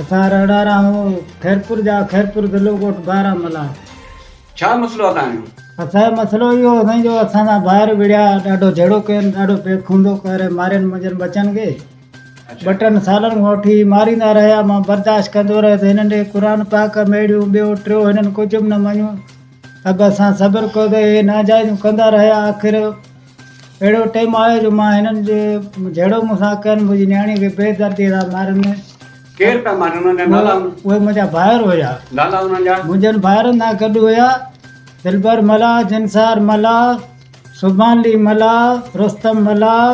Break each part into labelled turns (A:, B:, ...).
A: اسان
B: رهڙا راهون خيرپور جا خيرپور ضلعو ڳوٺ بارا ملا. ڇا مسئلو آ تانجو.
A: اسانجو مسئلو
B: اهو آ سائين جو اسان سان ڀائر وڙهيا ڏاڍو جهيڙو ڪين ڏاڍو بي خوندو ڪري مارين منهنجن ٻچن کي ٻه ٽن سالن کان وٺي ماريندا رهيا مان برداشت ڪندو رهيس هنن ڏي قرآن پاڪ ميڙيون ٻيو ٽيو هنن ڪجهه به نه مڃيو ته به اسان صبر ڪيو ته هي ناجائزون ڪندا رهيا آخر اهڙو ٽيم آيو جو مان هنن جي جهيڙو مون سان ڪين، منهنجي نياڻيء کي بي درديء سان ماريندين. ڪير پيا مارين؟
A: انهن جا نالا؟ اهي منهنجا ڀائر
B: هيا. نالا انهن جا؟
A: منهنجن ڀائرن سان گڏ
B: هيا، دلبر ملاح، جنسار ملاح، سبحانلي ملاح، رستم ملاح،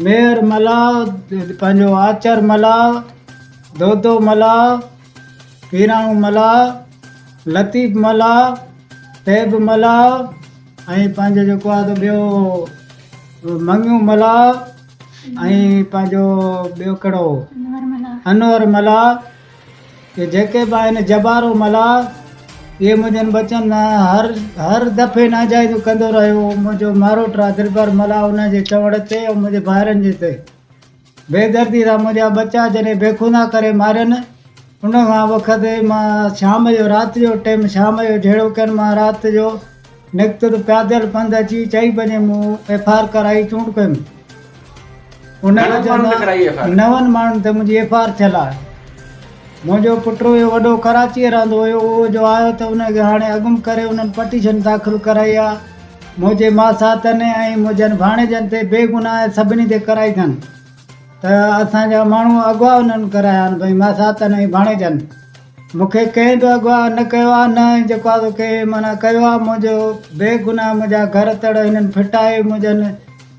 B: ميهر ملاح، پنهنجو آچر ملاح، دودو ملاح، پيراڻو ملاح، لطيف ملاح، طيب ملاح، ۽ پنهنجو جيڪو آهي سو ٻيو مڱيون ملاح ۽ پنهنجو ٻيو ڪهڙو هو انور ملاح ڪي جيڪي به آهن جبارو ملاح اهي منهنجن بچن هر هر دفعي ناجائزون ڪندو رهيو منهنجو ماروٽ آهي دلبر ملاح ان جي چوڻ تي ۽ منهنجي ڀائرن جي تي بي دردي سان منهنجا ٻچا جڏهن بيخودا ڪري مارين ان کان وقت مان شام جو رات جو ٽيم شام جو جهڙو ڪن مان رات جو نڪتل پيادل پنڌ اچي چئي بجي مون ايف آر ڪرائي چونڊ ڪيم ان نون ماڻهن تي منهنجي ايف آر ٿيل آهي منهنجو پٽ هيو وڏو ڪراچي رهندو هيو اهو جو آيو ته ان کي هاڻي اڳم ڪري انهن پٽيشن داخل ڪرائي آهي منهنجي ماساتن ۽ منهنجن ڀاڻيجن تي بي گناهه سڀني تي ڪرائي ٿن ته اسان جا ماڻهو اغوا انهن ڪرايا آهن ڀئي ماساتن ۽ ڀاڻيجن مون کي ڪنهن به اغوا نه ڪيو آهي نه ۽ جيڪو آهي سو ڪنهن معنيٰ ڪيو آهي منهنجو بي گناهه منهنجا گهر تڙ هنن ڦٽائي منهنجن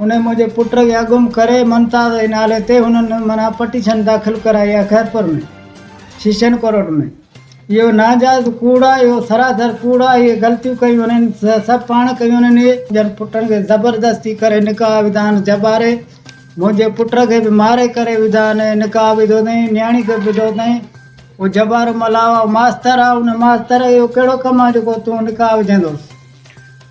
B: انهيء موجب پٽ کي اگم ڪري ممتاز جي نالي تي هنن معنيٰ پٽيشن داخل ڪرائي آهي خيرپور ۾ سيشن ڪورٽ ۾ اهو ناجائز ڪوڙ آهي اهو سراسر ڪوڙ آهي اهي غلطيون ڪيون انهن سڀ پاڻ ڪيون انهن اهي پنهنجن پٽن کي زبردستي ڪري نڪاح وڌائن جباري منهنجي پٽ کي به ماري ڪري وڌائن نڪاح وڌو اٿائين نياڻي کي به وڌو اٿائين اهو جبارو ملاح اهو ماستر آهي ان ماستر جو اهو ڪهڙو ڪم آهي جيڪو تون نڪاح وجهندوس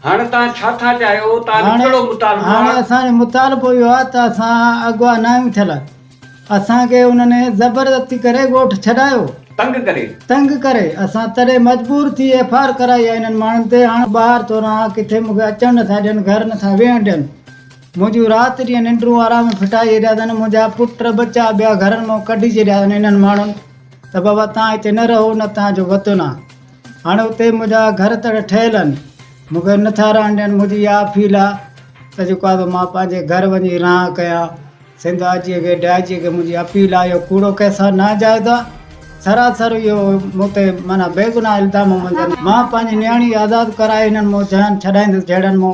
B: هاڻ توهان
A: ڇا ٿا چاهيو؟ توهان جو ڪهڙو مطالبو
B: آهي؟ هاڻ اسان جو مطالبو اهو آهي ته اسان اغوا نه آهيون ٿيل. اسان کي انهن زبردستي ڪري ڳوٺ ڇڏايو. تنگ ڪري. تنگ ڪري. اسان تڏهن مجبور ٿي ايف آر ڪرائي آهي انهن ماڻهن تي. هاڻ ٻاهر ٿو رهان. ڪٿي مون کي اچڻ نه ٿا ڏين. گهر نه ٿا ويهڻ ڏين. منهنجون رات ڏينهن ننڊون آرام ڦٽائي ڇڏيا اٿن. منهنجا پٽ ٻچا ٻيا گهرن مان ڪڍي ڇڏيا اٿن انهن ماڻهن ته بابا توهان هتي نه رهو نه توهان جو وطن آهي. هاڻ اتي منهنجا گهر تڙ ٺهيل آهن. مون کي نه ٿا رهڻ ڏين. منهنجي اها اپيل آهي ته جيڪو آهي سو مان پنهنجي گهر وڃي رهان ڪيان. سنڌ آء جيء کي، ڊي آء جيء کي منهنجي اپيل آهي اهو ڪوڙو ڪيس آهي، ناجائز آهي. سراسر اهو مون تي معنيٰ بيگناهه الزام منجهن مان پنهنجي نياڻي آزاد ڪرائي هنن مون جيان ڇڏائيندس جهڙن مون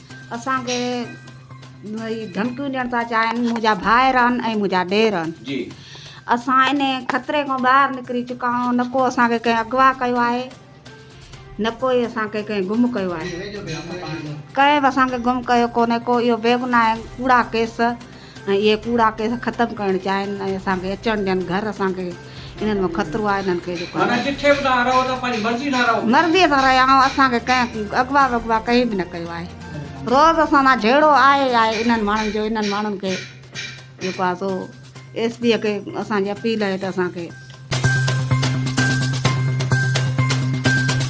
C: اسان کي ڌمڪيون ڏيڻ ٿا چاهين منهنجا ڀائر آهن ۽ منهنجا ڏير آهن جي اسان
A: ان
C: خطري کان ٻاهر نڪري چڪا آهيون نه ڪو اسان کي ڪنهن اغوا ڪيو آهي نه ڪو اسان کي ڪنهن گم ڪيو آهي ڪنهن به اسان کي گم ڪيو ڪونهي ڪو اهو بيگناهه ڪوڙا ڪيس ۽ اهي ڪوڙا ڪيس ختم ڪرڻ چاهين ۽ اسان کي اچڻ ڏين گهر اسان کي انهن مان خطرو آهي انهن کي جيڪو آهي
A: مرضي سان رهيائون
C: اسان کي ڪنهن اغوا وغوا ڪنهن به نه ڪيو آهي روز اسان سان جهيڙو آهي ئي آهي انهن ماڻهن جو انهن ماڻهن کي جيڪو آهي سو ايس پي کي اسان جي اپيل آهي ته اسان کي